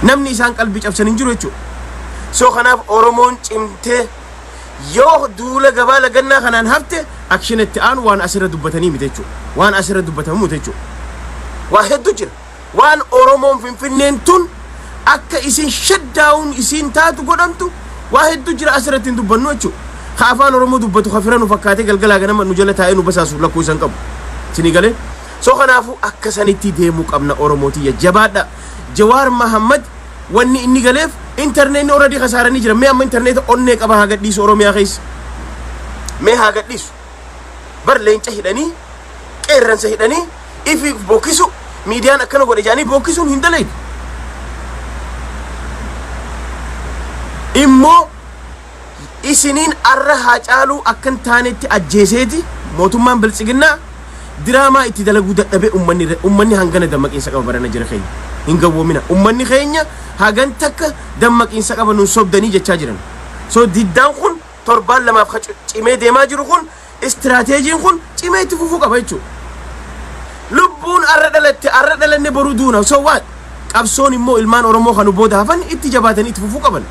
namni isaan qalbii cabsan hin jiru jechuudha. So kanaaf Oromoon cimtee yoo duula gabaa lagannaa kanaan hafte akshin itti aanu waan asirra dubbatanii miti jechuudha. Waan asirra dubbatamu miti jechuudha. Waa hedduu jira. Waan Oromoon Finfinneen tun akka isin shaddaa'uun isiin taatu godhamtu waa hedduu jira asirratti hin dubbannu jechuudha. Ka afaan Oromoo dubbatu ka fira nu fakkaatee galgalaa ganama nu jala taa'ee nu basaasuuf lakkuu isan qabu. Isinii galee? So kanaafuu akka sanitti deemuu qabna Oromoo tiyya jabaadha. Jawaar Mahammad wanni inni galeef internetni already kasaaranii jiran mee amma interneta onnee qaba haa gadhiisu Oromiyaa keessa mee haa gadhiisu bar leenca hidhanii qeerransa hidhanii ifi bokkisu miidiyaan akkana godhe jaanii bokkisuun hin dalaydu immoo isiniin arra haacaaluu akka hin taanetti ajjeeseeti mootummaan biltsiginnaa diraamaa itti dalaguu dadhabee ummanni irra- ummanni hangana dammaqiinsa qaba barana jira keenya hin gawwoomina ummanni keenya hagan takka dammaqiinsa qaba nun sobdanii jechaa jiran so diddaan kun torbaan lamaaf ka cu- cimee deemaa jiru kun Istiraateejiin kun cimee itti fufuu qaba jechuudha. Lubbuun arra dhalatte arra dhalanne boru duuna so what? Qabsoon immoo ilmaan Oromoo kan booda hafan itti jabaatanii itti fufuu qaban.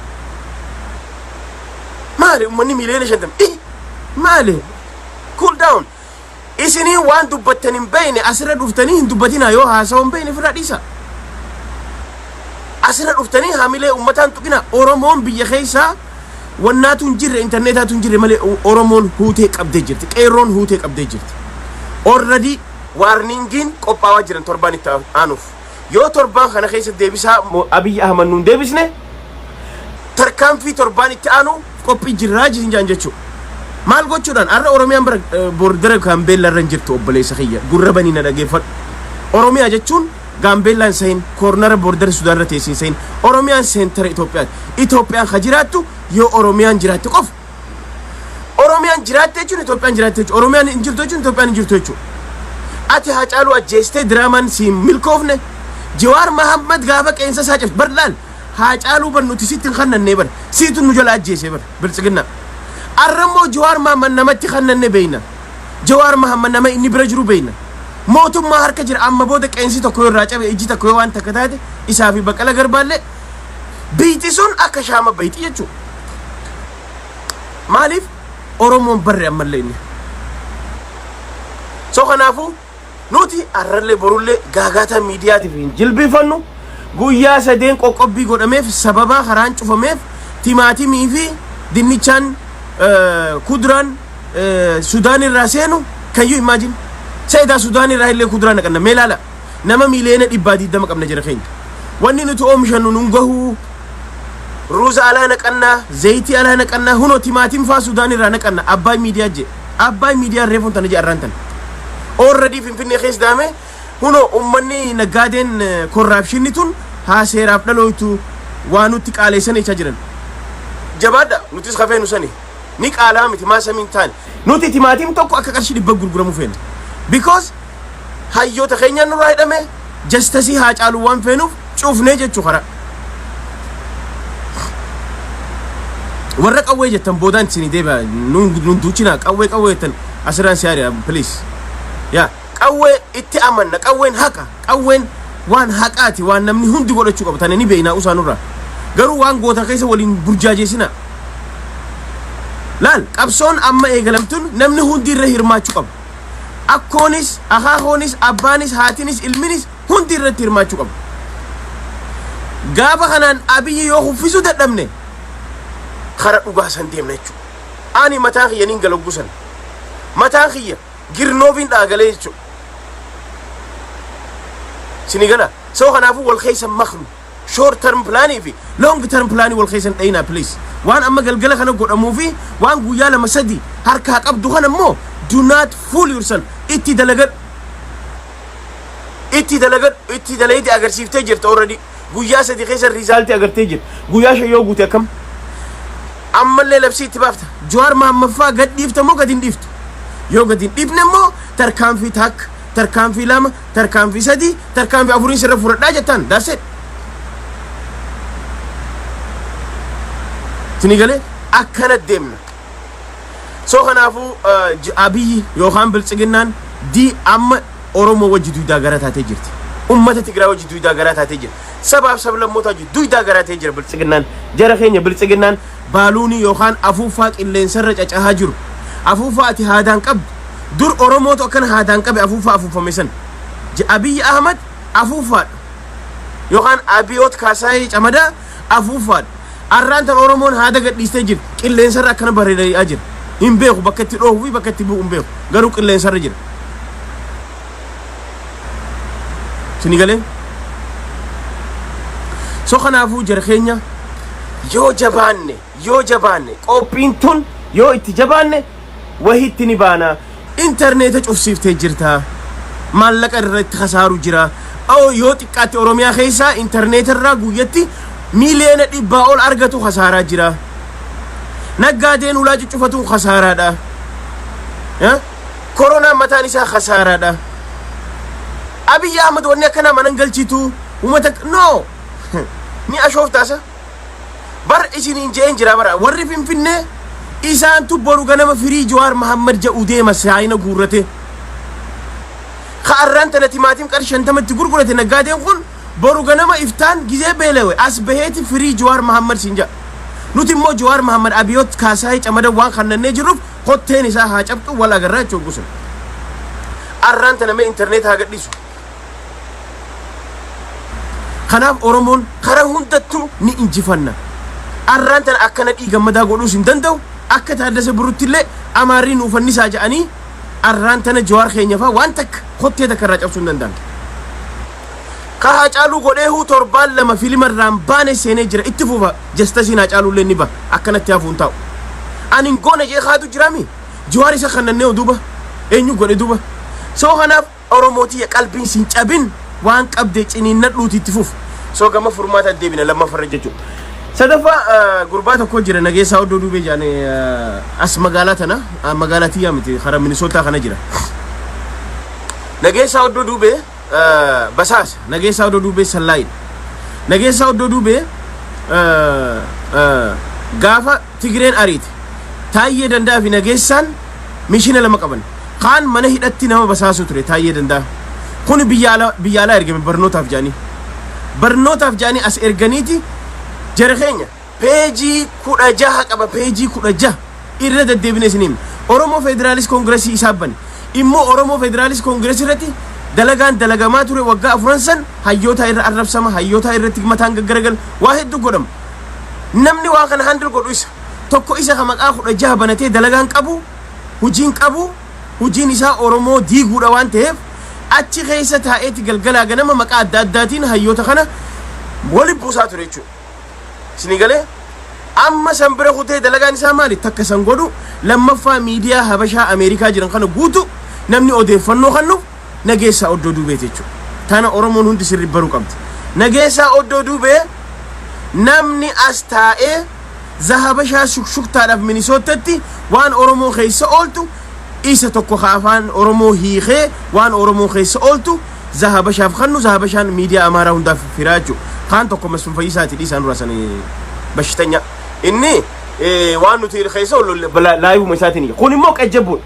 Maali uummanni miiliyoona shantam ih maali cool down isinii waan dubbattan hin beekne asirra dhuftanii hin dubbatinaa yoo haasawaa hin beekne ofirraa dhiisaa. Asirra dhuftanii hamilee uummataan tuqinaa Oromoon biyya keessaa Wannaatu hin jirre intarneetaatu hin jirre malee Oromoon huutee qabdee jirti. Qeerroon huutee qabdee jirti. Orradii waarningiin qophaawaa jiran torbaan itti aanuuf. Yoo torbaan kana keessa deebisaa Abiyyi Ahmad nuun deebisne tarkaanfii torbaan itti aanu qophii jirraa jisin jaan jechuu. Maal gochuudhaan har'a Oromiyaan bara boordara Gaambeella irra hin jirtu obboleessa kiyya gurra banii na dhageeffadhu. Oromiyaa jechuun Gaambeellaan sahin koornara boordara Sudaanirra teessi hin sahin. Oromiyaan seentara Itoophiyaati. Itoophiyaan ka jiraattu yoo Oromiyaan jiraatte qofa. Oromiyaan jiraatte jechuun Itoophiyaan jiraatte jechuudha. Oromiyaan hin jirtu jechuun Itoophiyaan hin jirtu jechuudha. Ati Haacaaluu ajjeestee diraamaan si hin milkoofne. Jawaar Mahammad gaafa qeensa isaa cabse bar laal. Haacaaluu bar nuti sitti hin kannannee bar. Siitu nu jala ajjeesee bar biltsiginnaa. Arrammoo Jawaar Mahammad namatti kannanne beeyna. Jawaar Mahammad nama inni bira jiru beekna. Mootummaa harka jira amma booda qeensi tokko yoo irraa cabe ijji tokko yoo waan takka taate isaa fi Baqqala Garbaallee biyti sun akka shaama bayti jechuudha. Maaliif Oromoon barre ammallee inni. So kanaafuu Nuti arrallee borullee gaagaataa miidiyaatiif hin jilbiifannu. Guyyaa sadeen qoqqobbii godhameef sababaa karaan cufameef timaatimii fi dinnichaan kudraan Sudaan irraa seenu can you imagine? Sa'idaa Sudaan irraa illee kuduraa naqanna mee laala nama miiliyoona dhibbaa diddama qabna jira keenya. Wanni nuti oomishannu nun gahuu ruuza alaa naqanna zayitii alaa naqanna huno timaatim faa Sudaan irraa naqanna abbaa miidiyaa jee. Abbaay miidiyaan reefuun tana je arraan tana. Already Finfinnee keessa daame huno ummanni naggaadeen korraapshinni tun haa seeraaf dhalooytu waa nutti qaaleessanii jechaa jiran. Jabaadha nutis kafee nu sani ni qaalaa miti maa samiin taane. Nuti timaatim tokko akka qarshii dhibba gurguramu feena because hayyoota keenyaan nurraa hidhame jastasii haa caalu waan feenuuf cuufnee jechuu karaa warra qawwee jettan boodaan isinii deebi'a nuun nuun duuchinaa qawwee qawwee jettan asirraan si ari'a please yaa qawwee itti amanna qawween haqa qawween waan haqaati waan namni hundi godhachuu qabu tane ni beeknaa usaa nurraa garuu waan goota keessa waliin burjaajeessinaa laal qabsoon amma eegalamtuun namni hundi irra hirmaachuu qaba Akkoonis, akaakoonis, abbaanis, haatinis, ilminis hundi irratti hirmaachuu qabu. Gaafa kanaan Abiyyi yoo kuffisuu dadhabne kara dhugaa san deemna jechuudha. Ani mataa kiyya niin gala gusan. Mataa kiyya girnoobiin dhaagalee jechuudha. Sini gala. Soo kanaafuu wal keessa maknu. short term plan fi long term plan wal keessan dhayinaa please waan amma galgala kana godhamuu fi waan guyyaa lama sadi harkaa qabdu kana immoo do not fool yourself itti dalagadhu itti dalagadhu itti dalaydi agarsiiftee jirta already guyyaa sadi keessa riizaaltii agartee jirta guyyaa shan yoo guute akkam ammallee labsii itti baafta jawaar maammaffaa gad dhiifta moo gad hin dhiiftu yoo gad hin dhiifne immoo tarkaanfii takka tarkaanfii lama tarkaanfii sadii tarkaanfii afuriin sirra fudhadhaa jettaan that's it isinii galee akkana deemna soo kanaafuu eh, j- abiyyi yookaan biltsiginnaan di amma oromoo wajji duydaa garaa taatee jirti ummata tigiraa wajji duydaa garaa taatee jirti sabaaf sablammoota wajji duydaa garaa taatee jira biltsiginnaan jara keenya biltsiginnaan baaluunii yookaan afuuffaa qilleensarra cacahaa jiru. Afuuffaa ati haadaan qabdu. Dur Oromootu akkana haadaan qabe afuuffaa afuuffame san. J- Abiyyi Ahmad afuuffaadha. Yookaan Abiyoot Kaasaayee Camadaa afuuffaadha. Arraan tan Oromoon haada gadhiistee jira. Qilleensarra akkana bareeda'aa jira. Hin beeku bakka itti dhoohuu fi bakka itti bu'u hin beeku. Garuu qilleensarra jira. sini galee so kanaafuu jara keenya yoo jabaanne yoo jabaanne qophiin tun yoo itti jabaanne wahitti ni baana intarneeta cufsiiftee jirta maallaqa irra itti kasaaru jira oo yoo xiqqaatti oromiyaa keessaa intarneeta irraa guyyatti miiliyoona dhibbaa ol argatu kasaaraa jira naggaadeen ulaa cuccufatuun kasaaraadha Eh? koronaan mataan isaa kasaaraadha abiyyi ahmad wanni akkanaa manan galchitu umata no ni ashooftaasa bar isiniin je'een jira bara warri finfinnee isaantu boru ganama firii jawaar mahammad ja'u deema saayina guurrate ka arraan tana timaatim qar shantamatti gurgurate naggaadeen kun boru ganama iftaan gizee beelewe as baheeti firii jawaar mahammad siin ja'a nuti immoo jawaar mahammad abiyoot kaasaayee camada waan kannannee jirruuf Kotteen isaa haa cabxu wal agarraa jechuun hogguu san. Arraan tana mee interneeta haa gadhiisu. Kanaaf Oromoon karaa hundattuu ni injifanna. Arraan tana akka nadhii gammadaa godhuus hin danda'u. Akka taaddasa birrutti illee amaarrii nuuf fannisaa jedhanii arraan tana jawaar keenya fa'aa waan takka kottee takka irraa cabsuu hin danda'an. Ka Haacaaluu godheehuu torbaan lama filima irraan baane seenee jira itti fufa. jastasiin hacaaluullee ni baha akkanatti hafuu hin taa'u ani hin goone jee kaatu jiraami jiwaar isa kannannee oduuba eenyu godhe duuba soo kanaaf oromootii qalbiin sin cabin waan qabdee ciniinnadhuuti itti fuuf soo gama furmaata deebina lammaffarra jechuudha. Sadaffaa eh, gurbaa tokko jira nageessaa oddoo duubee jaane eh, as magaalaa tana ah, magaalaa tiyyaa miti karaa minisootaa kana jira nageessaa oddoo duubee basaasa Nageessaa Oddoo Duubee Sallaayidha. Nageessaa Oddoo Duubee gaafa Tigireen ariite Taayyee Dandaa fi Nageessaan mishina lama qaban. Kaan mana hidhatti nama basaasuu ture Taayyee Dandaa. Kun biyya ala- biyya alaa ergame barnootaaf jedhanii. Barnootaaf jedhanii as erganiiti jara keenya Peejii kudha jaha qaba peejii kudha jaha irra deddeebine isin himne. Oromoo Federaalist Koongiresii isaa bane. Immoo Oromoo Federaalist Koongiresii irratti dalagaan dalagamaa ture waggaa afuran san hayyootaa irra arrabsama, hayyootaa irratti mataan gaggaragal waa hedduu godhama. Namni waa kana handle godhu isa. Tokko isa ka maqaa kudha jaha banatee dalagaan qabu, hujiin qabu, hujiin isaa Oromoo diiguudha waan ta'eef achi keessa taa'eeti galgalaa ganama maqaa adda addaatiin hayyoota kana wali buusaa ture jechuudha. isinii galee amma san bira kutee dalagaan isaa maali takka san godhu lammaffaa miidiyaa habashaa ameerikaa jiran kana guutu namni odeeffannoo kannu nageessaa oddoo duubee jechuudha tana oromoon hundi sirri baruu qabdi nageessaa oddoo duubee namni as taa'ee zahabashaa shukshuktaadhaaf minisoottatti waan oromoo keessa ooltu isa tokko ka afaan oromoo hiikee waan oromoo keessa ooltu Zahabashaaf kannu Zahabashaan miidiyaa Amaaraa hundaaf firaa jechuu kaan tokko Masfin Fayyisaati dhiisaa nurraa san bashitanya inni waan nuti keessa laayivuma isaatiin kun immoo qajjabbuun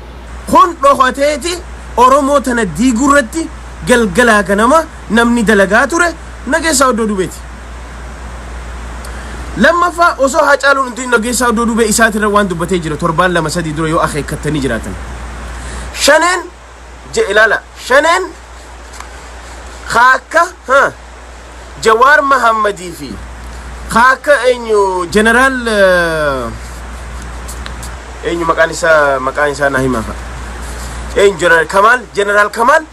kun dhokateeti Oromoo tana diigurratti galgalaa ganama namni dalagaa ture nageessaa oddoo dubeeti. Lammaffaa osoo haacaaluun hundi nageessaa oddoo dubee isaatirra waan dubbatee jira torbaan lama sadii dura yoo akeekkattanii jiraatan. Shaneen je ilala shaneen kaakka ha jawaar mahammadii fi kaakka eenyu jeneraal eenyu maqaan isaa maqaan isaa naa himaa fa'a eenyu jeneraal kamaal jeneraal kamaal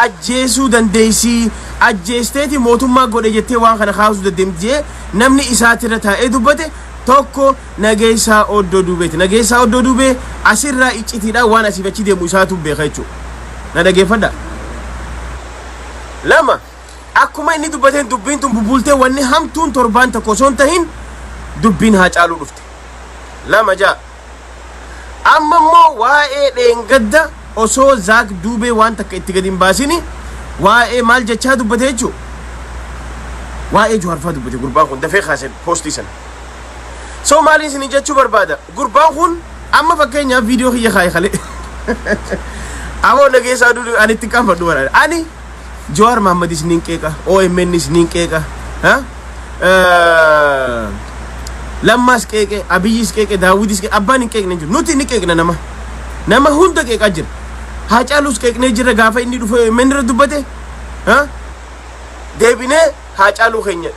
ajjeesuu dandeessii ajjeesteeti mootummaa godhe jettee waan kana kaasuu dandeemti jee namni isaatirra taa'ee dubbate tokko Nageessaa Oddoo Duubeeti. Nageessaa Oddoo Duubee asirraa iccitiidhaan waan asiif achi deemu isaatu beeka jechuudha. Na dhageeffadha. Lama, akkuma inni dubbateen dubbiin tun bubultee wanni hamtuun torbaan tokko osoo hin tahin dubbiin haa caaluu dhufte. Lama ja'a. Amma immoo waa'ee dheengadda osoo Zaak Duubee waan takka itti gadi hin baasini waa'ee maal jechaa dubbate jechuudha. Waa'ee Juhaarfaa dubbate gurbaan kun dafee kaase poostii sana. so maalii isinii jechuu barbaada gurbaan kun amma fakkeenyaaf viidiyoo kiyya kaa'e kalee amoo nageessaa dudu ani itti qaanfadhu bara ani Jawaar Mahammadis niin qeeqa OMNis niin qeeqa ha? Eh, Lammaas qeeqe Abiyyis qeeqe Daawwitis qeeqe abbaan hin qeeqne hin jiru nuti ni qeeqna nama nama hunda qeeqaa jira Haacaalus qeeqnee jira gaafa inni dhufe OMN irra dubbate ha? deebinee Haacaaluu keenya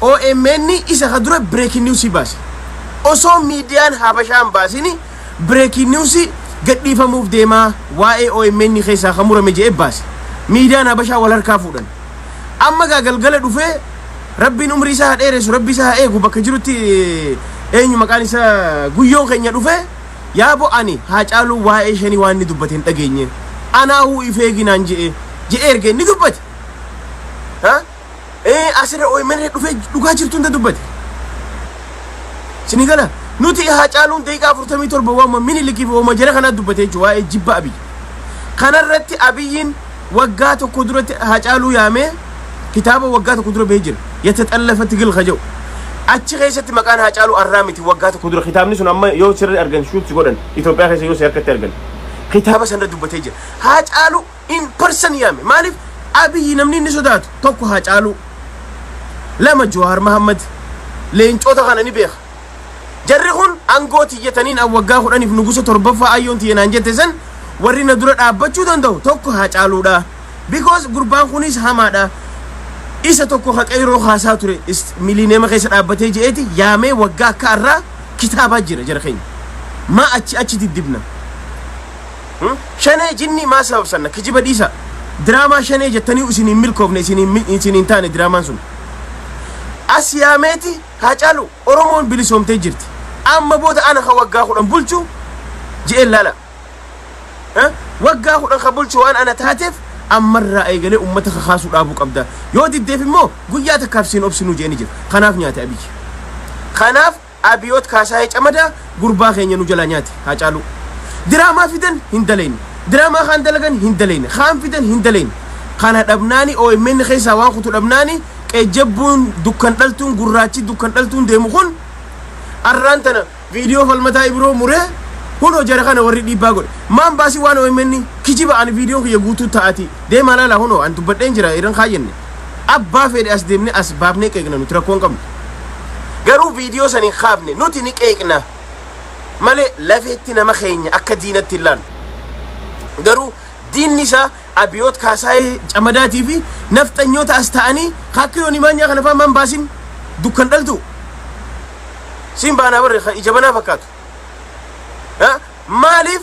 omn isa ka dura breaking news baase osoo miidiyaan habashaa hin baasini breaking news gadhiifamuuf deemaa waa'ee omn keessaa ka murame je'e baase miidiyaan habashaa wal harkaa fuudhan amma gaa galgala dhufee rabbiin umrii isaa haa dheeressu rabbi isaa haa eegu bakka jirutti eenyu maqaan isaa guyyoon keenya dhufee yaabo ani haa caaluu waa'ee shanii waan inni dubbate hin dhageenye anaa huu ifeeginaan je'e je'e erga inni dubbate ha ee asirra omn irra dhufee dhugaa jirtu hunda dubbate sini gala nuti haa caaluun daqiiqaa afurtamii torba waama minilikiif waama jara kanaa dubbate jechuudha waa'ee jibba abiyyi kanarratti abiyyiin waggaa tokko duratti haa caaluu yaamee kitaaba waggaa tokko dura bahee jira yata xallafa tigil kaja'u achi keessatti maqaan haa caaluu arraa miti waggaa tokko dura kitaabni sun amma yoo sirri argan shuutti godhan Itoophiyaa keessa yoo si harkatti argan kitaaba sanarra dubbatee jira haa caaluu in person yaame maaliif abiyyi namni inni sodaatu tokko haacaaluu lama jawaar mahammad leencoota kana ni beeka jarri kun angoo tiyyataniin an waggaa kudhaniif nugusa torbaffaa ayyoon tiyya naan jette san warri na dura dhaabbachuu danda'u tokko haacaaluudha because gurbaan kunis hamaadha isa tokko ka qeyroo kaasaa ture is- miliineema keessa dhaabbatee je'eeti yaamee waggaa akka arraa kitaabaa jira jara keenya maa achi achi diddibna Hmm? Shanee jinnii maa sababsanna kijiba dhiisa. Diraamaa shanee jettanii isin hin milkoofne isin hin mil- isin hin taane diraamaan sun. As yaameeti haa caalu Oromoon bilisoomtee jirti. Amma booda ana kan waggaa kudhan bulchu je'een laala. Eh? Waggaa kudhan kan bulchu waan ana taateef ammarraa eegalee uummata kakaasuu dhaabuu qabda. Yoo diddeef immoo guyyaa takkaaf siin obsinuu je'een jira. Kanaaf nyaate abiyyi. Kanaaf Abiyoot Kaasaayee Camadaa gurbaa keenya nu jalaa nyaate Haacaaluu. Diraamaa fidan hin dalayne. Diraamaa kaan dalagan hin dalayne. Kaan fidan hin dalayne. Kana dhabnaani omn keessaa waan kutu dhabnaani qejjabbuun dukkan dhaltuun gurraachi dukkan dhaltuun deemu kun arraan tana viidiyoo falmataa ibiroo muree huno jara kana warri dhiibbaa godhe. Maan baasii waan omn kijiba ani viidiyoon kiyya guutuu ta'aati deemaa laalaa huno an dubbadheen jira iran kaayyanne. Abbaa feedhe as deemne as baafnee qeeqna nuti rakkoo hin qabnu. Garuu viidiyoo san hin kaafne nuti ni qeeqna malee lafeetti nama keenya akka diinatti hin laallu. Garuu diinni isaa Abiyoot Kaasaayee Camadaatii fi nafxanyoota as taa'anii ka akka Yoonii Maanyaa kana faa maan baasin dukkan dhaltuu. Siin baanaa barre ka ija banaa fakkaatu. Maaliif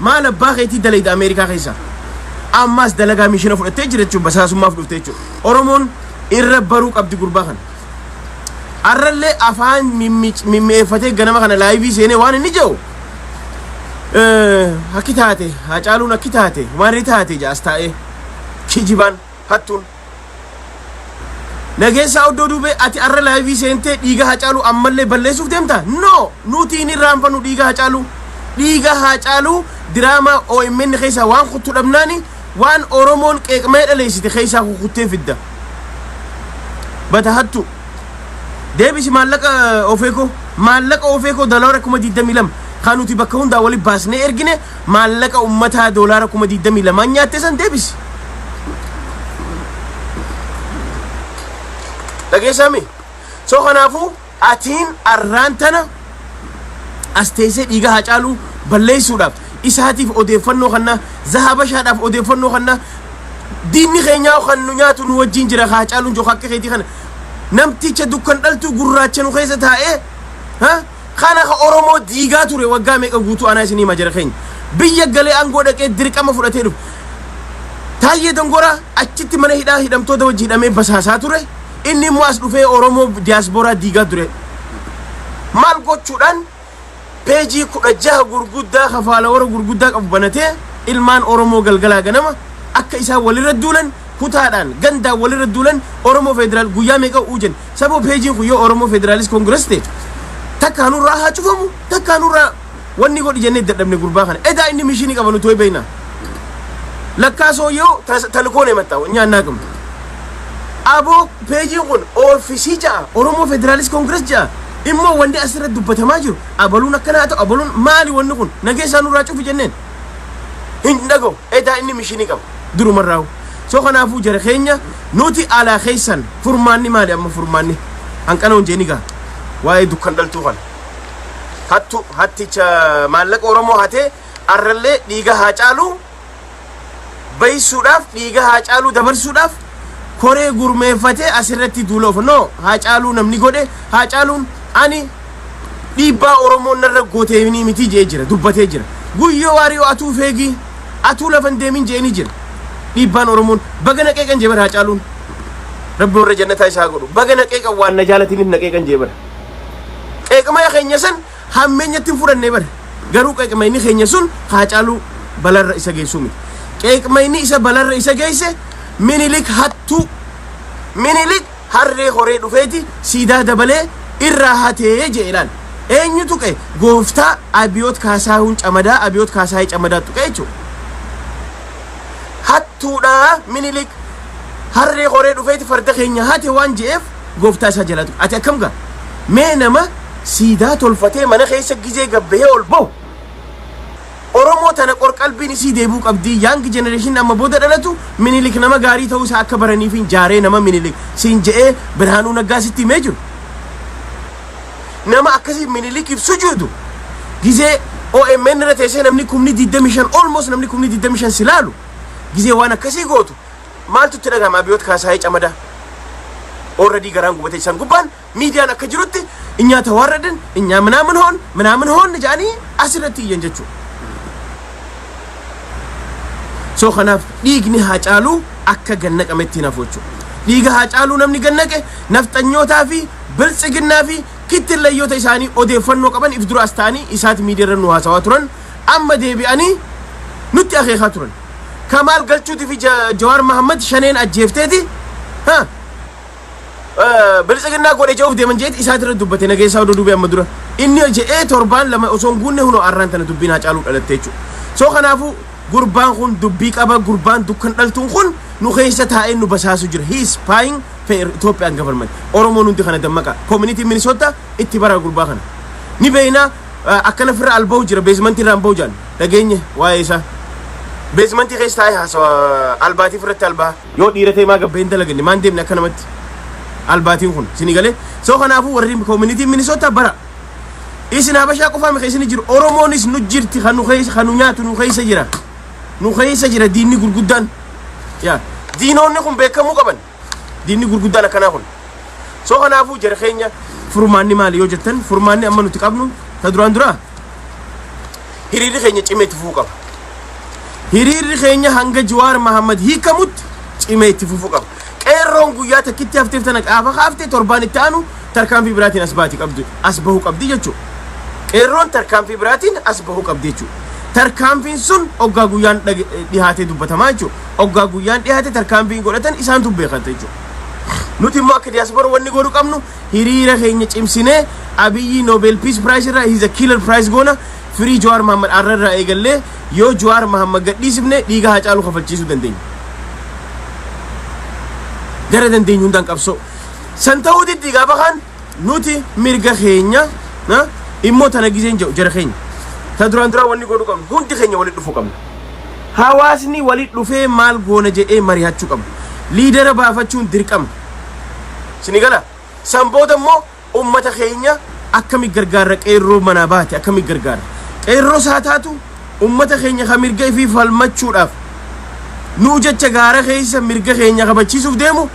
Maal abbaa keetii dalayda Ameerikaa keessaa? Ammaas dalagaa miishina fudhattee jira jechuun basaasummaaf dhufte jechuudha. Oromoon irra baruu qabdi gurbaa kana. Arrallee afaan mimmic- mimmi'eeffatee ganama kana laayivii seenee waan inni jedhu eh, akki taate haacaaluun akki taate maarree taate jaas taa'ee kijibaan hattuun. Nageessaa Oddoo Duubee ati arra laayivii seentee dhiiga Haacaaluu ammallee balleessuuf deemta? No! Nuti hin irraanfannu dhiiga Haacaaluu. Dhiiga Haacaaluu diraamaa OMN keessaa waan kuttu dhabnaani waan Oromoon qeeqmee dhaleessite keessaa kukuttee fidda. Bata hattu. Deebisi maallaqa ofeekoo. Maallaqa ofeekoo dalaara kuma 22 kan nuti bakka hundaa wali baasnee ergine Maallaqa ummataa doolaara kuma 22 nyaatte san deebisi. Dhageessaami. So kanaafuu atiin arraan tana as teessee dhiiga haa caaluu balleessuudhaaf isaatiif odeeffannoo kanna zahabashaadhaaf odeeffannoo kanna diinni keenyaa kan nu nyaatu nu wajjin jira haa caaluun jooka akka keetii kana namticha dukkan dhaltuu gurraacha nu keessa taa'ee ha Kana ka Oromoo diigaa ture waggaa meeqa guutuu anaa isin hima jara keenya. Biyya galee aangoo dhaqee dirqama fudhatee dhufe. Taayyee Dangoraa achitti mana hidhaa hidhamtoota wajji hidhamee basaasaa ture. Inni immoo as dhufee Oromoo diyaaspooraa diigaa ture. Maal gochuudhaan peejii kudha jaha gurguddaa kafaala warra gurguddaa qabu banatee ilmaan Oromoo galgalaa ganama akka isaan walirra duulan kutaadhaan gandaan walirra duulan Oromoo federaal guyyaa meeqa uujan Saboo peejiin kun yoo Oromoo Federaalist Congress ta'e takkaa nurraa haa cufamu takkaa nurraa wanni godhi jennee dadhabne gurbaa kana edaa inni mishinii qaba nuti ho'i beekna lakkaa sooyyoo talkoon himatta nyaannaa gamu aboo peejiin kun oofisii ja'a Oromoo Federaalist Congress ja'a immoo wanni asirratti dubbatamaa jiru abaluun akkanaa ta'u abaluun maali wanni kun nageessaa nurraa cufi jenneen hin dhagahu edaa inni mishinii qaba durumarraa soo kanaafuu jara keenya Nuti alaa keessan furmaanni maali amma furmaanni hanqana hunjee ni gaha waa'ee dukkan dhaltuu kana hattu hatticha maallaqa oromoo hatee arrallee dhiiga haa caaluu baysuudhaaf dhiiga haa caaluu dabarsuudhaaf koree gurmeeffatee asirratti duula ofa no haa caaluu namni godhe haa caaluun ani dhiibbaa oromoon narra gooteeminii miti jee jira dubbatee jira guyyoo waariyoo atuu feegii Atuu lafa hin deemin je'eni jira. Dhiibbaan Oromoon. Baga na qeeqan jee bar Haacaaluun. Rabbi warra jannataa isa haa godhu. Baga na qeeqan waan na jaalatiniif na qeeqan jee bar. Qeeqmaya keenya san hammeenyatti hin fudhanne bar. Garuu qeeqmayni keenya sun Haacaaluu balarra isa geessuu miti. Qeeqmayni isa balarra isa geesse Minilik hattuu. Minilik Harree koree dhufeeti siidaa dabalee irraa hate je'e ilaal. Eenyu tuqe? Gooftaa Abiyoot Kaasaahun Camadaa, Abiyoot Kaasaahee Camadaa tuqe jechuudha. Hattuudha Minilik harree koree dhufeeti farda keenya hate waan je'eef gooftaa isaa jalaa tuqe. Ati akkam gaa? Mee nama siidaa tolfatee mana keessa gizee gabbahee ol bahu Oromoo tana qorqalbiin isii deebuu qabdii young generation amma boda dhalatu minilik nama gaarii ta'uu isaa akka baraniifiin jaaree nama minilik siin je'ee birhaanuu naggaa sitti himee jiru nama akkasii minilikiif sujuudu gizee OMN irra teessee namni kumni 25 almost namni kumni 25 si laalu gizee waan akkasii gootu maaltu itti dhagahama abiyoot kaasaayee camadaa already garaan gubatee isaan gubbaan Miidiyaan akka jirutti inyaa tawaarradin inyaa minaamin hoon minaamin hoon jedhanii asirratti iyyan jechuudha. So kanaaf dhiigni haacaaluu akka gannaqametti hin hafu jechuudha. Dhiiga haacaaluu namni gannaqe nafxanyootaa fi biltsiginnaa fi kittillayyoota isaanii odeeffannoo qaban if dura as ta'anii isaati miidiyaarra nu haasawaa turan amma deebi'anii nutti akeekaa turan. Kamaal galchuutii fi Ja- Jawaar Mahammad shaneen ajjeefteeti. Ha? biltsiginnaa godhe je'uuf deeman jeeti isaati irra dubbate nageessaa oduu dubee amma dura inni je'ee torbaan lama osoo hin guunne hunoo arraan tana dubbiin haa caaluu dhalatte jechuudha soo kanaafuu gurbaan kun dubbii qaba gurbaan dukkan dhaltuun kun nu keessa taa'ee nu basaasu jira he is spying for Ethiopian government Oromoon hundi kana dammaqa community Minnesota itti bara gurbaa kana ni beeyna akkana firra alba'u jira beezmantii irraan ba'u jaan dhageenye waa'ee isaa beezmantii keessa taa'ee haasawa albaatiif irratti albaa Yoo dhiira ta'e maa gabbee hin dalaganne maan deemne akka namatti albaatiin kun isinii galee soo kanaafuu warri koominitiin minisoota bara isin habashaa qofaa mika isin jiru oromoonis nu jirti kan nu keessa kan nu nyaatu nu keessa jira nu keessa jira diinni gurguddaan yaa diinoonni kun beekamuu qaban diinni gurguddaan akkanaa kun soo kanaafuu jara keenya furmaanni maali yoo jettan furmaanni amma nuti qabnu ta duraan duraa Hiriirri keenya cimee itti fufuu qaba. Hiriirri keenya hanga Jawaar Mahammad hiikamutti cimee itti fufuu qaba. Qeerroon guyyaa takkitti hafteef tana qaafa kaafte torbaan itti aanu tarkaanfii biraatiin as baati qabdu as bahuu qabdi jechuudha. Qeerroon tarkaanfii biraatiin as bahuu qabdi jechuudha. Tarkaanfiin sun oggaa guyyaan dhage- dhihaatee dubbatamaa jechuudha. Oggaa guyyaan dhihaate tarkaanfii godhatan isaantu beekata jechuudha. Nuti immoo akka diyaaspoora wanni godhu qabnu hiriira keenya cimsinee Abiyyi Nobel Peace Prize irraa he's a killer prize goona firii Jawaar Mahammad arra irraa eegallee yoo Jawaar Mahammad gadhiisifne dhiiga Haacaaluu kafalchiisuu dandeenya. Gara dandeenyu hundaan qabsoo. San ta'uu diddi gaafa kaan nuti mirga keenya na, immoo tana gizeen jedhu jara keenya. Ta duraan duraan wanni godhu qabnu hundi keenya walitti dhufuu qabna. Hawaasni walitti dhufee maal goona jedhee mari'achuu qabna. Liidera baafachuun dirqama. Sini gala? San booda immoo ummata keenya akkami gargaarra qeerroo manaa baate akkami gargaarra? Qeerroo saa taatu ummata keenya ka mirga ifii falmachuudhaaf nuu jecha gaara keessa mirga keenya kabachiisuuf deemu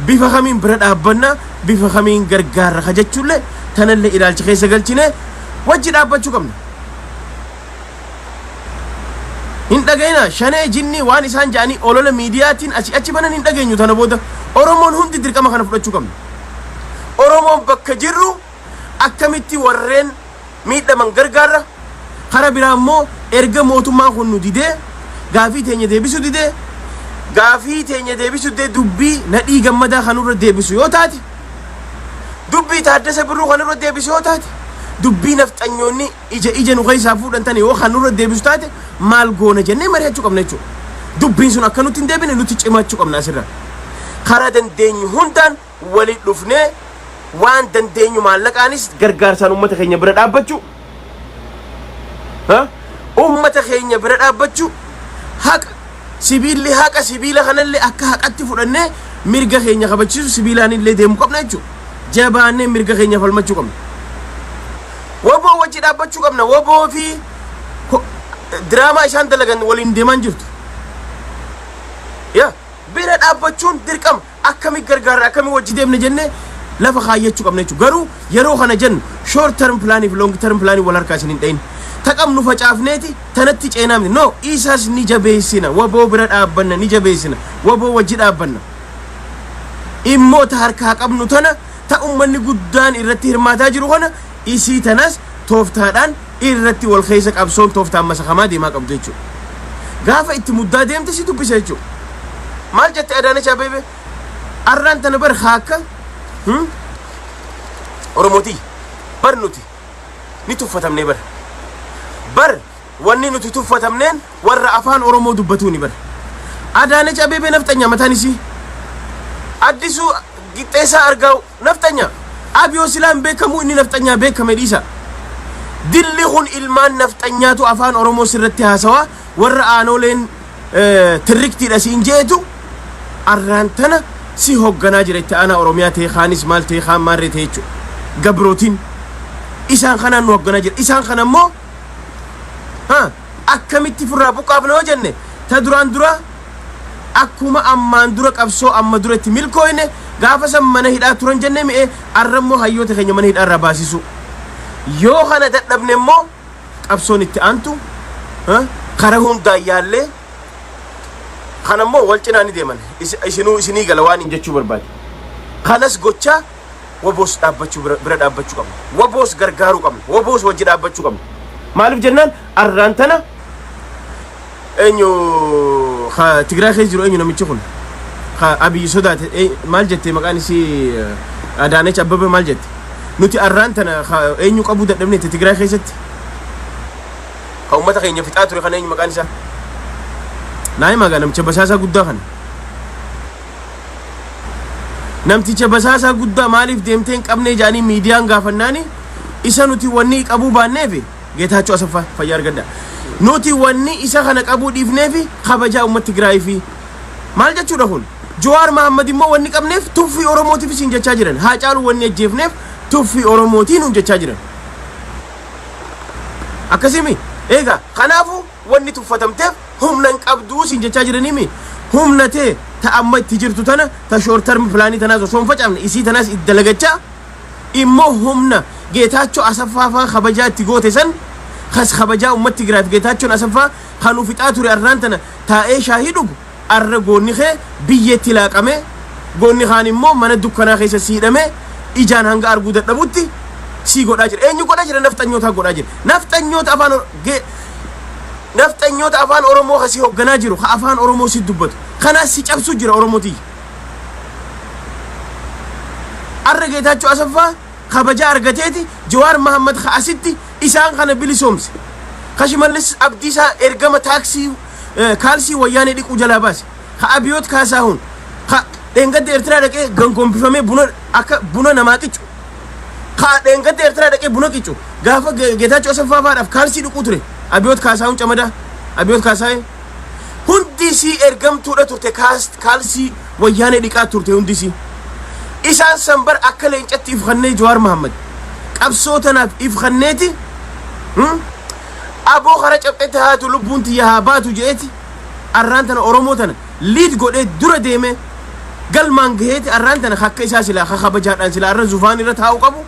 bifa kamiin bira dhaabbanna bifa kamiin gargaarra ka jechuullee tanallee ilaalcha keessa galchine wajji dhaabbachuu qabna. hin dhagayina shanee jinnii waan isaan ja'anii olola miidiyaatiin asii achi banan hin dhageenyu tana booda oromoon hundi dirqama kana fudhachuu qabna oromoon bakka jirru akkamitti warreen miidhaman gargaarra kara biraa immoo erga mootummaan kun nu didee gaafii teenya deebisuu didee gaafii teenya deebisuu didee dubbii nadhii gammadaa kanurra deebisu yoo taate dubbii taaddasa birruu kanurra deebisu yoo taate dubbii nafxanyoonni Ija ija nu keessaa fuudhan tana yoo kan nurra deebisu taate maal goona jennee mari'achuu qabna jechuudha. Dubbiin sun akka nutti hin deebine nutti cimaachuu qabna asirra. Karaa dandeenyu hundaan waliin dhufnee waan dandeenyu maallaqaanis gargaarsaan uummata keenya bira dhaabbachuu uummata keenya bira dhaabbachuu haqa sibiilli haqa sibiila kanallee akka haqatti fudhannee mirga keenya kabachiisu sibiilaan illee deemu qabna jechuudha. Jabaannee mirga keenya falmachuu qabna. Waboo wajji dhaabbachuu qabna. Waboo fi ko- diraamaa isaan dalagan waliin deemaa hin jirtu. Ya bira dhaabbachuun dirqama akkamii gargaarra akkamii wajji deemne jennee lafa kaayyachuu qabna jechuudha. Garuu yeroo kana jennu short term plan fi long term plan wal harkaa isin hin dhayin. Taqam nu facaafneeti tanatti ceenaamne. No isas ni jabeessina. Waboo bira dhaabbanna ni jabeessina. Waboo wajji dhaabbanna. Dhimmoota harkaa qabnu tana Ta ummanni guddaan irratti hirmaataa jiru kana isii tanas tooftaadhaan irratti wal keessa qabsoon tooftaan masakamaa deemaa qabdu jechuudha. Gaafa itti muddaa deemte si dubbisa jechuudha. Maal jette Adaanech Abeebee? Arraan tana bar haakka hmm? Oromootii bar nuti ni tuffatamnee bar bar Wanni nuti tuffatamneen warra afaan oromoo dubbatuuni bar. Adaanech Abeebee nafxanyaa mataan isii. Addisuu Qixxeessaa Argaaw nafxanyaa. Abiyoo silaa hin beekamuu inni nafxanyaa beekame dhiisa. Dilli kun ilmaan nafxanyaatu afaan oromoo sirratti haasawaa warra aanooleen eh, tirriktiidha siin jeetu arraan tana si hogganaa jira itti aanaa oromiyaa ta'e kaanis maal ta'e kaan maarree ta'e jechuudha. Gabrootiin isaan kanaan nu hogganaa jira. Isaan kana immoo akkamitti ifirraa buqqaafna yoo jenne ta duraan dura akkuma ammaan dura qabsoo amma dura itti milkooyne gaafa san mana hidhaa turan jenne mi'e arra immoo hayyoota keenya mana hidhaa irraa baasisuu yoo kana dadhabne immoo qabsoon itti aantu kara hundaan yaallee kana immoo wal cinaa ni deeman isinuu isinii gala waan hin jechuu barbaade kanas gochaa Waboos dhaabbachuu bira, bira dhaabbachuu qabna. Waboos gargaaruu qabna. Waboos wajji dhaabbachuu qabna. Maaliif jennaan arraan tana eenyu ka Tigraay keessa jiru eenyu namichi kun ka Abiyyi sodaate ee- maal jette maqaan isii eh, Adaanech Abbabee maal jette nuti arraan tana ka eenyu qabuu dadhabne itti Tigraay keessatti ka uummata keenya fixaa ture kan eenyu maqaan isaa naa himaa gaa namicha basaasaa guddaa kana namticha basaasaa guddaa maaliif deemtee hin qabnee jedhanii miidiyaan gaafannaani isa nuti wanni qabuu baanneefi Geetaachoo Asaffaa fayyaa argadda. Nuti wanni isa kana qabuu dhiifneefi kabajaa uummata Tigraayii fi maal jechuudha kun? Jawaar Mahaammad immoo wanni qabneef tuffii Oromootiif isin jechaa jiran. Haa caalu wanni ajjeefneef tuffii Oromootiin nuun jechaa jiran. Akkasimi eegaa kanaafuu Wanni tuffatamteef humna hin qabdu siin jechaa jiraniimi. Humna tee ta amma itti jirtu tana ta short term plan tanaas osoo hin facaafne isii tanaas itti dalagachaa immoo humna Geetaachoo Asaffaa faa kabajaa itti goote san kas kabajaa ummatti Tigraayif Geetaachoon Asaffaa kan ufixaa ture arraan tana taa'ee shaahii dhugu Arra goonni kee biyyeetti laaqamee, goonni kaan immoo mana dukkanaa keessa si hidhamee, ijaan hanga arguu dadhabutti si godhaa jira. Eenyu godhaa jira? Nafxanyootaa godhaa jira. Nafxanyoota afaan Or- ge- nafxanyoota afaan Oromoo ka si hogganaa jiru, ka afaan Oromoo si dubbatu. Kanaas si cabsuu jira Oromoo tiyya. Arra Geetaachoo Asaffaa kabaja argateeti Jawaar Mahammad ka asitti isaan kana bilisoomse. Ka Shimallis Abdiisaa ergama taaksii kaalsii wayyaanee dhiquu jalaa baase ka abiyoot kaasaahun ka dheengadda eertiraa dhaqee gangombifamee buna akka buna namaa qicu ka dheengadda eertiraa dhaqee buna qicu gaafa geetaachoo asaffaa faadhaaf kaalsii dhiquu ture abiyoot kaasaahun camadaa abiyoot kaasaahee hundisii ergamtuudha turte kaalsii wayyaanee dhiqaa turte hundisii isaan san bar akka leencatti ifkannee jawaar mahammad qabsoo tanaaf ifkanneeti Abo kara caphetti haatu lubbuun tiyya haa baatu je'eeti arraan tana Oromoo tana liid godhee dura deemee galmaan gaheeti arraan tana akka isaa silaa ka kabajaadhaan silaa arra zufaan irra taa'u qabu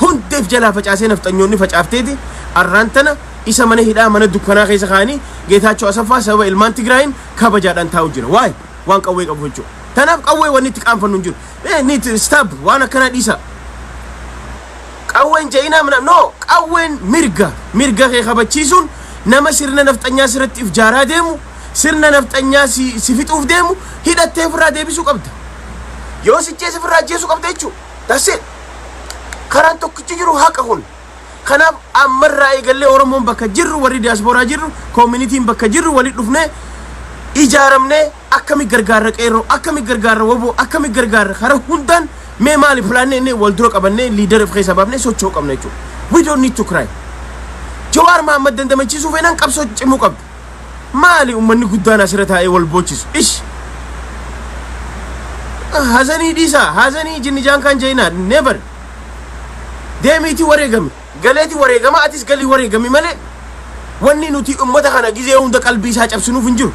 hundeef jalaa facaasee nafxanyoonni facaafteeti arraan tana isa mana hidhaa mana dukkanaa keessa kaanii Geetaachoo Asaffaa sababa ilmaan Tigraayin kabajaadhaan taa'u jira waay waan qawwee qabu jechuudha tanaaf qawwee wanni itti qaanfannu hin jiru niit staab waan akkanaa dhiisaa Qawween ja'inaa mna no qawween mirga mirga kee kabachiisuun nama sirna nafxanyaa sirratti if jaaraa deemu sirna nafxanyaa si si fixuuf deemu hidhattee ofirraa deebisuu qabda yoo si jeese ofirraa jeesuu qabda jechuu that's it karaan tokkichi jiru haqa kun kanaaf ammarraa eegallee oromoon bakka jirru warri diyaaspooraa jirru koominitiin bakka jirru walitti dhufnee ijaaramnee Akkami gargaarra qeerroo akkami gargaarra wbo akkami gargaarra kara hundaan mee maali plaanni inni wal dura qabannee liidara of keessaa baafnee socho'uu qabna jechuudha we don't need to cry jawaar mahammad dandamachiisuu feenaan qabsoo cimuu qabdu maali ummanni guddaan asirra taa'ee wal boochisu ish hazanii dhiisaa hazanii jinnijaan kan jeenaa never deemiitii wareegame galeeti wareegama atis galii wareegami malee wanni nuti ummata kana gizee hunda qalbii isaa cabsinuuf hin jiru.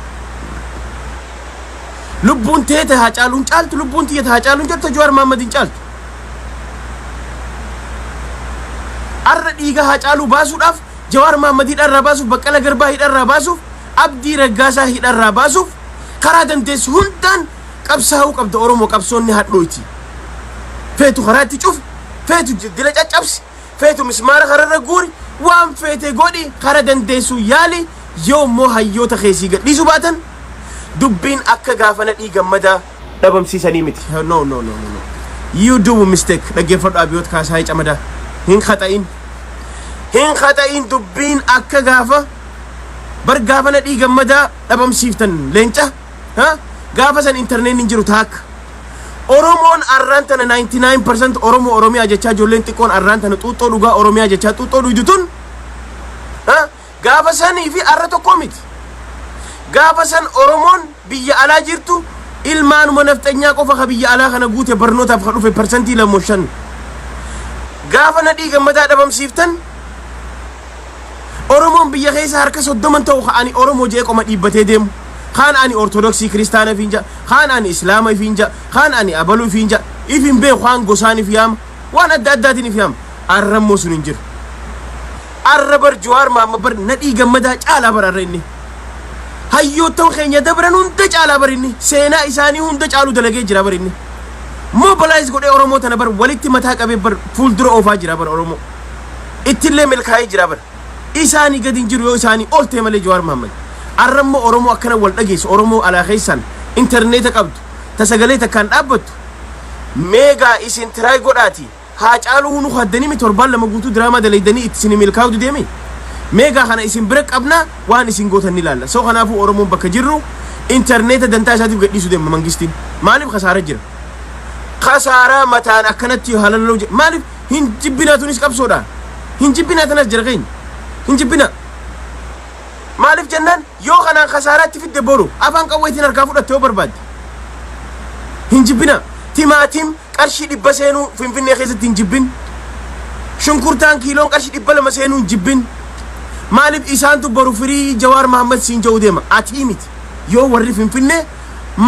Lubbuun tee ta Haacaaluun caaltu lubbuun tiyya ta Haacaaluun caaltu ta Jawaar Mahammad hin caaltu. Arra dhiiga Haacaaluu baasuudhaaf Jawaar Mahammad hidharraa baasuuf Baqqala Garbaa hidharraa baasuuf Abdii Raggaasaa hidharraa baasuuf karaa dandeessu hundaan Qabsaa'uu qabda Oromoo qabsoon ni hadhooyti. Feetu karaa itti cufi, feetu dila caccabsi, feetu mismaara kararra guuri, waan feete godhi kara dandeessuu yaali yoo immoo hayyoota kee sii gadhiisu baatan dubbiin akka gaafa nadhii gammadaa dhabamsiisanii miti. No, no, no, no, no. You do mistake. Dhaggeeffadhu Abiyoot Kaasaayee Camadaa. Hin khata'in. Hin khata'in dubbiin akka gaafa bar gaafa nadhii gammadaa dhabamsiiftan leenca. Ha? Gaafa san intarneetni hin jiru taakka. Oromoon arraan tana 99% Oromoo Oromiyaa jechaa ijoolleen xiqqoon arraan tana xuuxxoo dhugaa Oromiyaa jechaa xuuxxoo dhuydu tun ha? gaafa sanii fi arra tokkoo miti. Gaafa san Oromoon biyya alaa jirtu ilmaanuma nafxanyaa qofa ka biyya alaa kana guute barnootaaf ka dhufe parsantii lamoo shan. Gaafa nadhii gammadaa dhabamsiiftan Oromoon biyya keessa harka soddoman ta'u ka ani Oromoo jee qoma dhiibbatee deemu. Kaan ani Ortodoksii Kiristaana ifiin ja'a, kaan ani Islaama ifiin ja'a, kaan ani Abaluu ifiin ja'a, if hin beeku kaan gosaan if yaama, waan adda addaatiin if yaama. Arra immoo sun hin jiru. Arra bar Jawaar Maamma bar nadhii gammadaa caalaa bar arra inni. Hayyoottan keenya dabran hunda caalaa bar inni. Seenaa isaanii hunda caalu dalagee jira bar inni. Mobilize godhee Oromoo tana bar walitti mataa qabee bar fuuldura oofaa jira bar Oromoo. ittillee milkaa'ee jira bar isaanii gadi hin jiru yoo isaanii ol ta'e malee Jawaar Mahammad arra immoo Oromoo akkana wal dhageessu Oromoo alaa keessaan intarneeta qabdu ta sagalee takkaan dhaabbattu meegaa isin tiraay godhaati haa caaluu hunu haddanii mi torbaan lama guutuu diraamaa dalaydanii itti isin milkaa'uu dideemi meegaa kana isin bira qabnaa waan isin gootan ni laalla soo kanaafuu Oromoon bakka jirru intarneeta dantaa isaatiif gadhiisu deema mangistiin maaliif kasaara jira kasaaraa mataan akkanatti halalloo maaliif hin jibbinaa tunis qabsoodha hin jibbinaa tanas jira keenya hin jibbinaa maaliif jennaan yoo kanaan kasaaraatti fidde boru afaan qawweetiin harkaa fudhatte yoo barbaadde hin jibbinaa timaatiin qarshii dhibba seenuu finfinnee keessatti hin jibbin shunkurtaan kiiloon qarshii dhibba lama seenuu hin jibbin maaliif isaantu boru firii jawaar mahammad siin ja'uu deema atii miti yoo warri finfinnee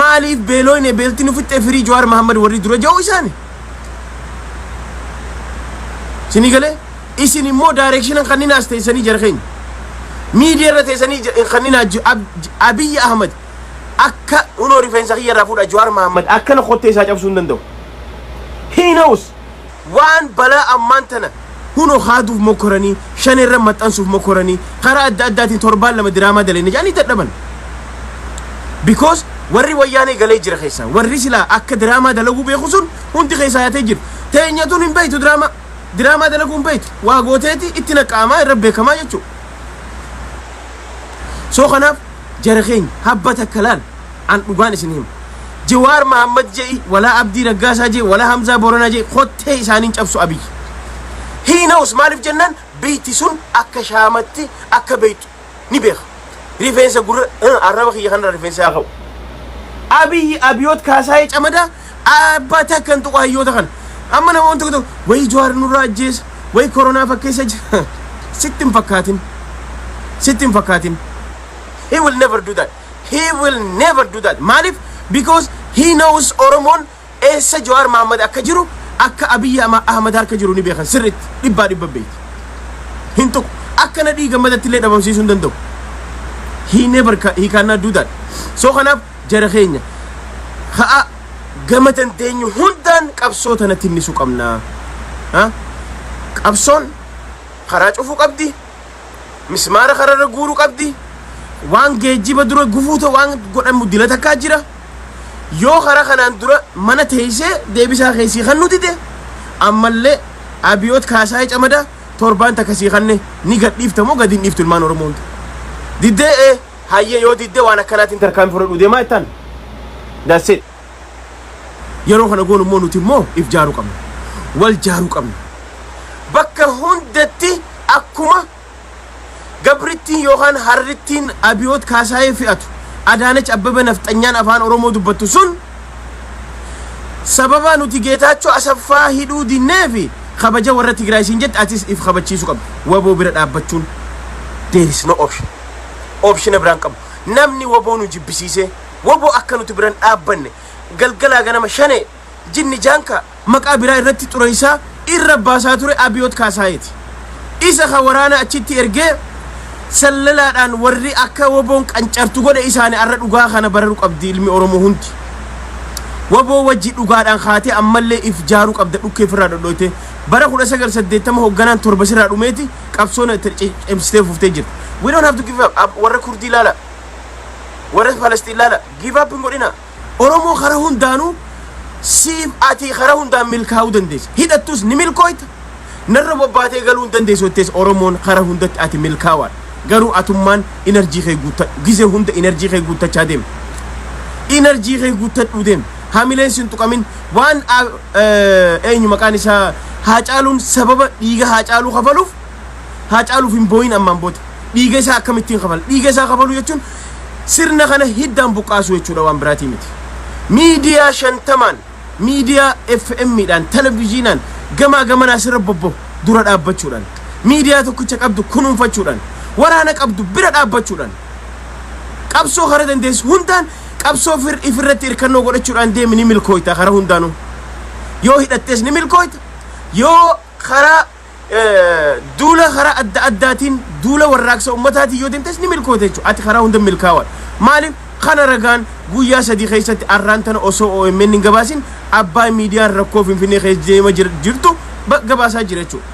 maaliif beelooyne beelti nu fixxee firii jawaar mahammad warri dura ja'uu isaani Isinii galee isin immoo daayireekshinan kanninaas teessanii jara keenya. Miidiyaa irra teessanii kanninaa Abiyyi Ahmad akka unoo rifeensa kiyya irraa fuudha Jawaar Mahammad akkana kottee isaa cabsuu hin danda'u. He knows waan balaa ammaan tana Kunoo haaduuf mokkoranii, shaneerra maxxansuuf mokkoranii, karaa adda addaatiin torbaan lama diraamaa daleenne jedhanii dadhaban. Because warri wayyaanee galee jira keessaa. Warri silaa akka diraamaa dalaguu beeku sun hundi keessaa yaatee jiru. Teenyatuun hin beektu diraamaa. Diraamaa dalaguu hin beektu. Waa gooteeti itti naqqa'amaa irra beekamaa jechuudha. So kanaaf jara keenya habba takka laal. An dhugaan isin hima. Jawaar Mahaammad je'i, walaa Abdii Raggaasaa je'i, walaa Hamzaa Booranaa je'i kottee isaanii hin cabsu Abiyyi. He knows maaliif jennaan biyti sun akka shaamatti akka beeytu ni beeka. Rifeensa gurra uh, arraba kiyya kanarra rifeensa haa ka'u. Abiyyi Abiyoot Kaasaayee Camadaa abbaa takka hin tuqu hayyoota kana. Amma namoonni tokko tokko wayii Jawaar nurraa ajjeesa, wayii koronaa fakkeessa jira. Sitti hin fakkaatin. Sitti hin fakkaatin. He will never do that. he will never do that maalif because he knows oromoon eessa jawaar maammad akka jiru akka abiyyi ahmad harka jiru ni beekan sirritti dhibbaa dhibba beekti hin tuqu akka nadhii gammadatti illee dhabamsiisuu hin danda'u he never ca- he cannot do that so kanaaf jara keenya ha'a gama dandeenyu hundaan qabsoo tanatti hinnisu qabnaa ha? qabsoon karaa cufuu qabdi mismaara kararra guuru qabdi waan geejjiba dura gufuu ta'u waan godhamu dila takkaa jira yoo karaa kanaan dura mana teessee deebisaa keessii kan nuti ta'e ammallee abiyoot kaasaa camada torbaan takka sii kanne ni gadhiifta moo gadi hin dhiiftu ilmaan oromoo hunda diddee ee hayyee yoo diddee waan akkanaatiin tarkaanfii fudhadhu deemaa ittaan that's it Yeroo kana goonu immoo nuti immoo if jaaruu qabna. Wal jaaruu qabna. Bakka hundatti akkuma gabrittiin yookaan harrittiin Abiyoot Kaasaayee fe'atu Adaanech Abbabee Nafxanyaan afaan Oromoo dubbattu sun sababa nuti Geetaachoo Asaffaa hidhuu dinnee fi kabaja warra Tigraay siin jette atis if kabachiisuu qabda. Waboo bira dhaabbachuun there is no option. Optiona biraan qabu. Namni waboo nu jibbisiisee Wbo akka nuti biran dhaabbanne galgalaa ganama Shanee, Jinni Jaankaa, maqaa biraa irratti xureessaa irra baasaa ture Abiyoot Kaasaayeeti. Isa ka waraana achitti ergee sallalaadhaan warri akka wboon qancartu godhe isaani arra dhugaa kana bararu qabdi ilmi Oromoo hundi. Wbo wajji dhugaadhaan kaatee ammallee if jaaru qabda dhukkee ifirraa dhodhooytee. Bara 1980 hogganaan torba sirraa dhumeeti qabsoona itti cimsitee fuftee jirti. We don't have to give up. Ab- Warra Kurdii ilaala. Warri Falastiin laala give up hin godhina. Oromoo karaa hundaanuu siif ati karaa hundaan milkaa'uu dandeessa. Hidhattus ni milkooyta. Narra bobbaatee galuu hin dandeessu jettees Oromoon karaa hundatti ati milkaawaadha. Garuu atummaan inarjii kee guuttadhu. Gizee hunda inarjii kee guuttachaa deema. Inarjii kee guuttadhuu deema. Hamileen sin tuqamin waan eenyu maqaan isaa haacaaluun sababa dhiiga haacaaluu kafaluuf Haacaaluuf hin boo'in ammaan booda. Dhiiga isaa akkamittiin kafala? Dhiiga isaa kafaluu jechuun sirna kana hiddaan buqqaasuu jechuudha waan biraatii miti. Miidiyaa shantamaan, miidiyaa FM dhaan, televiziinaan gamaa gamanaa sirra bobbahu dura dhaabbachuudhaan, miidiyaa tokkicha qabdu kunuunfachuudhaan, waraana qabdu bira dhaabbachuudhaan, qabsoo karaa dandeessu hundaan qabsoo fir ifirratti hirkannoo godhachuudhaan deemi ni milkooyta karaa hundaanuu. Yoo hidhattees ni milkooyta, yoo Karaa duula karaa adda addaatiin duula warraaqsa ummataatiin yoo deemtes ni milkoota jechuudha. Ati karaa hunda milkaawaadha. Maaliif kana ragaan guyyaa sadii keessatti arraan tana osoo OMN hin gabaasin abbaa miidiyaan rakkoo Finfinnee keessa deema jirtu gabaasaa jira jechuudha.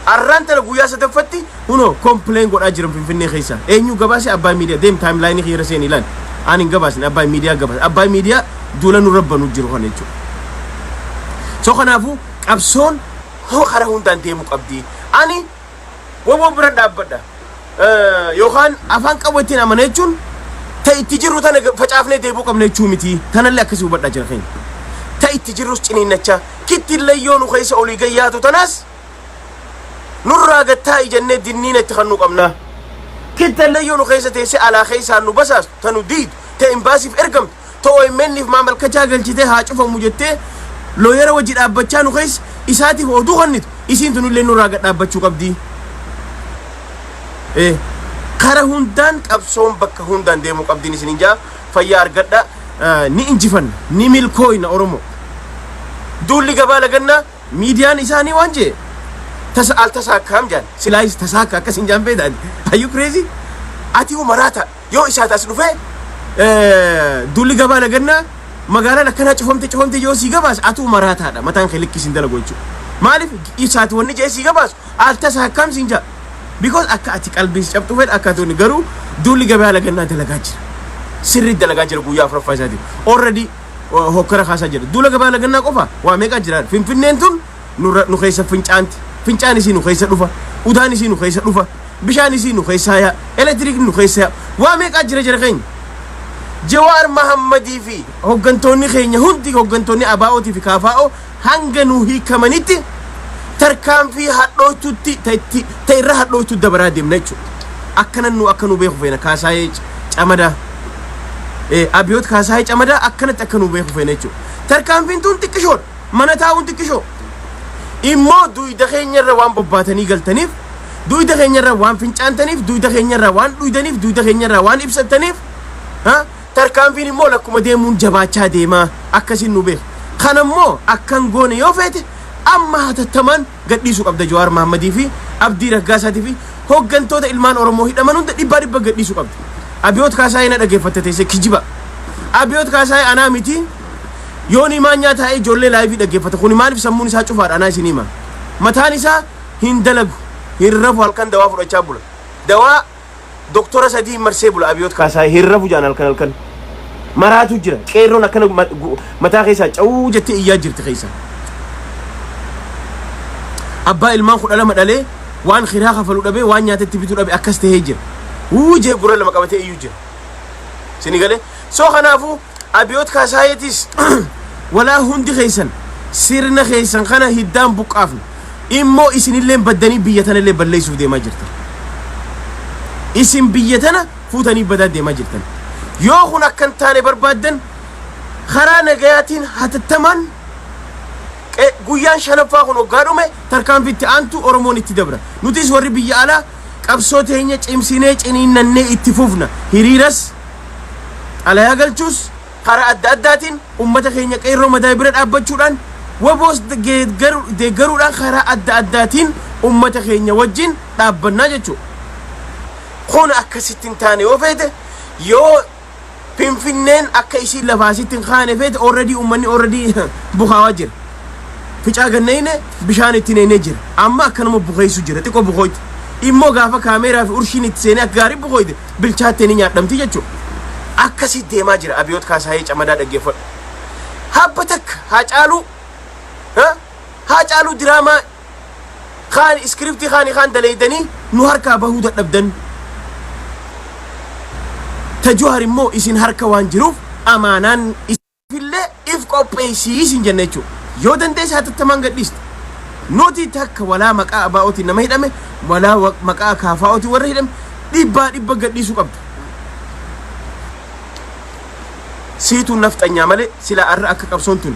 Arraan tana guyyaa sadaffatti Kuno complain godhaa jiran finfinnee keessa. Eenyu gabaase Abbaay Miidiyaa deem timeline kiyya seeni ilaali. Aan hin gabaasne Abbaay Miidiyaa gabaase. Abbaay Miidiyaa duula nu rabbanu jiru kana jechuudha. So kanaafuu qabsoon hoo karaa hundaan deemu qabdi. Ani waboo bira dhaabbadha. Yookaan afaan qabu ittiin amana jechuun ta itti jirru tana facaafnee deebuu qabna jechuu miti. Tanallee akkasii hubadhaa jira keenya. Ta itti jirrus ciniinnachaa kittillee yoo nu keessa olii gayyaatu tanaas nurraa gad taa'i jennee dinniina itti kannuu qabnaa? Kittallee yoo nu keessa teessee alaa keessaan nu basaastu, ta nu diidu, ta imbaasiif ergamtu, ta OMN'f maamalkachaa galchitee haa cufamu jettee looyera wajji dhaabbachaa nu keessa isaatiif oduu kannitu isiin tunillee nurraa gad dhaabbachuu qabdi. Ee, Kara hundaan qabsoon bakka hundaan deemuu qabdiin isin hin jaa fayyaa argadha Eh, ni injifanna ni milkooyna Oromoo. Duulli gabaa lagannaa Miidiyaan isaanii waan jee tasa al tasa akkaam jaan silaayis tasaa akka akkas hin jaan beedaan ayyuu kireezii ati hoo maraata yoo isaati as dhufee duulli gabaa lagannaa magaalaan akkanaa cufamte cufamte yoo sii gabaas atuu maraataadha mataan kee likkii siin dalagu jechuudha. Maaliif isaati wanni jee sii gabaasu al tasa akkaam siin jaa because akka ati qalbiis cabxu fedha akka ati garuu duulli gabaa lagannaa dalagaa jira. Sirri dalagaa jira guyyaa afuraffaa isaatiin. Already uh, hokkara kaasaa jira. Duula gabaa lagannaa qofa waa meeqaa jira. Finfinneen tun nurra- nu keessa fincaanti. Fincaan isii nu keessa dhufa. Udaan isii nu keessa dhufa. Bishaan isii nu keessaa yaa. Elektiriik nu keessa yaa. Waa meeqaa jira jira keenya. Jawaar Mahammadii fi hoggantoonni keenya hundi hoggantoonni ABOtii fi KFO hanga nuu hiikamanitti tarkaanfii hadhooytuutti ta itti ta irra hadhooytuu dabaraa deemna jechuudha. Akkanan nu akka nu beeku feena kaasaayee camadaa eh, abiyoot kaasaayee camadaa akkanatti akka nu beeku feena jechuudha. Tarkaanfiin tun xiqqishoodha. Mana taa'uun xiqqishoo. Immoo duyda keenyarra waan bobbaatanii galtaniif duyda keenyarra waan fincaantaniif duyda keenyarra waan dhuydaniif duyda keenyarra waan ibsattaniif ha? Tarkaanfiin immoo lakkuma deemuun jabaachaa deema. Akkasiin nu beeka. Kana immoo akka hin goone yoo feete amma hatattamaan gadhiisuu qabda Jawaar Mahammadii fi Abdii Raggaasaatii fi hoggantoota ilmaan Oromoo hidhaman hunda dhibbaa dhibba gadhiisuu qabda. Abiyoot Kaasaayee na dhageeffatta teessee kijiba. Abiyoot Kaasaayee anaa miti yoonii maanyaa taa'ee ijoollee laayivii dhaggeeffata. Kuni maaliif sammuun isaa cufaadha anaa isin hima. Mataan isaa hin dalagu. Hin rafu halkan dawaa fudhachaa bula. Dawaa doktora sadii marsee bula abiyoot kaasaa hin rafu jaan halkan halkan maraatu jira qeerroon akkana ma- gu- mataa keessaa cawuu jettee iyyaa jirti keessaa abbaa ilmaan kudha lama dhalee waan kiraa kafalu dhabee waan nyaatetti bitu dhabe akkas ta'ee jira wuu jee gurra lama qabatee iyyuu jira sini galee So kanaafuu Abiyoot Kaasaayeetiis walaa hundi keessan sirna keessan kana hiddaan buqqaafna. Immoo isinilleen baddanii biyya tanallee balleessuuf deemaa jirtan. Isin biyya tana fuutanii badaa deemaa jirtan. Yoo kun akka hin taane barbaaddan karaa nagayaatiin hatattamaan qe- guyyaan shanaffaa kun hoggaa dhume tarkaanfitti aantu Oromoon itti dabra. Nutis warri biyya alaa qabsoo teenya cimsinee ciniinnannee itti fufna. Hiriiras Xalayaa galchuus karaa adda addaatiin ummata keenya Qeerroo Madaay bira dhaabbachuudhaan WBOs deeggaruudhaan karaa adda addaatiin ummata keenya wajjin dhaabbannaa jechuudha. Kun akka sitti hin taane yoo feete yoo Finfinneen akka isiin lafaa sitti hin kaane feete already ummanni already bukaawaa jira. Ficaa ganneeyne bishaan itti neeynee jira. Amma akkanuma bukeessu jira xiqqoo bukooyte. Immoo gaafa kaameeraa fi urshiin itti seenee akka gaarii bukooyte bilchaattee ni nyaadhamti jechuudha. Akkasii deemaa jira Abiyoot Kaasaayee Camadaa dhaggeeffadhu. Habba takka Haacaaluu ha? Haacaaluu diraamaa kaan iskiriptii kaanii kaan daleeydanii nu harkaa bahuu dadhabdan. Ta Juhar immoo isin harka waan jiruuf amaanaan is- Illee if qopheessii siin jenna jechuudha. Yoo dandeesse hatattamaan gadhiiste. Nuti takka walaa maqaa abaa'ootiin nama hidhame, walaa wa- maqaa kaafaa'ootiin warra hidhame dhibbaa dhibba gadhiisuu qabda. Siituu nafxanyaa malee sila arra akka qabsoon tun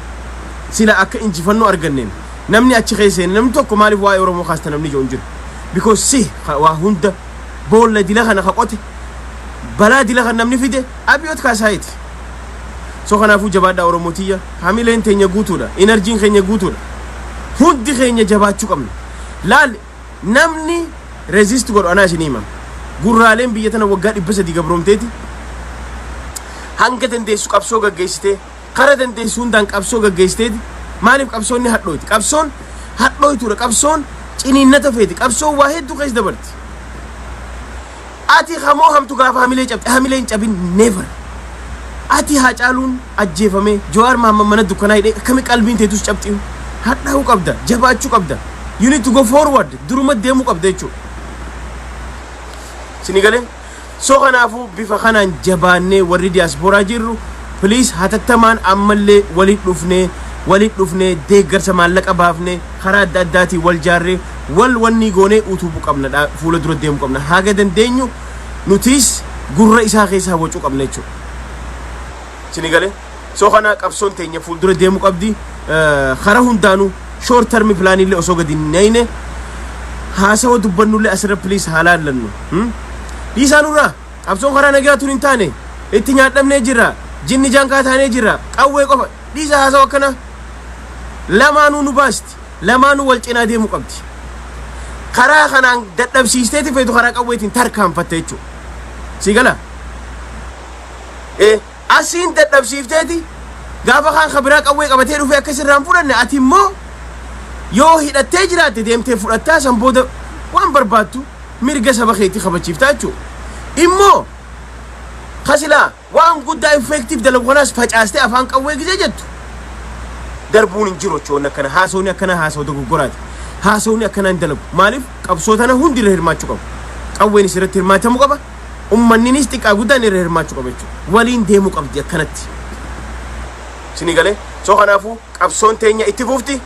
sila akka injifannoo arganneen namni achi keessa hin namni tokko maaliif waa'ee Oromoo kaasta namni ijoo hin jiru. Because si ka- waa hunda boolla dila kana ka qote balaa dila kan namni fide abiyoot kaasaayiti. so kanaafuu jabaadhaa oromoo tiyya hamileen teenya guutuudha inarjiin keenya guutuudha hundi keenya jabaachuu qabna laal namni resist godhu anaa isinii hima gurraaleen biyya tana waggaa dhibba sadii gabroomteeti hanga dandeessu qabsoo gaggeessitee kara dandeessu hundaan qabsoo gaggeessiteeti maaliif qabsoonni hadhooti qabsoon hadhooytuudha qabsoon ciniinnata feeti qabsoon waa hedduu keessa dabarti Ati ha moohamtu gaafa hamilee cabxe hamilee hin cabin never Ati haacaaluun ajjeefamee Jawaar Mahammad mana dukkanaa hidhee akkami qalbiin teetus cabxiu hadhaa'uu qabda jabaachuu qabda you need to go forward duruma deemuu qabda jechuu sini galee so kanaafuu bifa kanaan jabaannee warri diaspora jirru please hatattamaan ammallee waliin dhufnee waliin dhufnee deeggarsa maallaqa baafnee karaa adda addaatiin wal jaarree wal wannii goonee utuubu qabna dha fuula dura deemu qabna haga dandeenyu nutiis gurra isaa keessa hawwacuu qabna jechuudha. Sini galee soo kana qabsoon teenya fuul dura deemu qabdi kara hundaanu short term plan illee osoo gadi hin nayne haasawa dubbannullee asirra please haa laallannu. Hmm? Dhiisaa nurraa qabsoon karaa nagaa tun hin taane itti nyaadhamnee jirra jinni jaankaa taanee jirra qawwee qofa dhiisaa haasawa akkana lamaanuu nu baasti. lamaanuu wal cinaa deemuu qabdi. Karaa kanaan dadhabsiisteeti feetu karaa qawweetiin tarkaanfatte jechuudha. Sii gala? Eh, asiin dadhabsiifteeti gaafa kaan ka biraa qawwee qabatee dhufee akka sirraa hin fudhanne ati immoo yoo hidhattee jiraatte deemtee fudhattaa san booda waan barbaaddu mirga saba keetii kabachiiftaa jechuudha. Immoo kasilaa Waan guddaa infeektiiv dalagu kanaas facaastee afaan qawwee gizee jettu darbuun hin jiru jechuun akkana haasawni akkanaa haasawa dogoggoraati. Haasawni akkanaa hin dalagu. Maaliif qabsoo tana hundi irra hirmaachuu qaba. Qawweenis irratti hirmaatamuu qaba. Ummanninis xiqqaa guddaan irra hirmaachuu qaba jechuudha. Waliin deemuu qabdi akkanatti. Isinii galee? So kanaafuu qabsoon teenya itti fufti.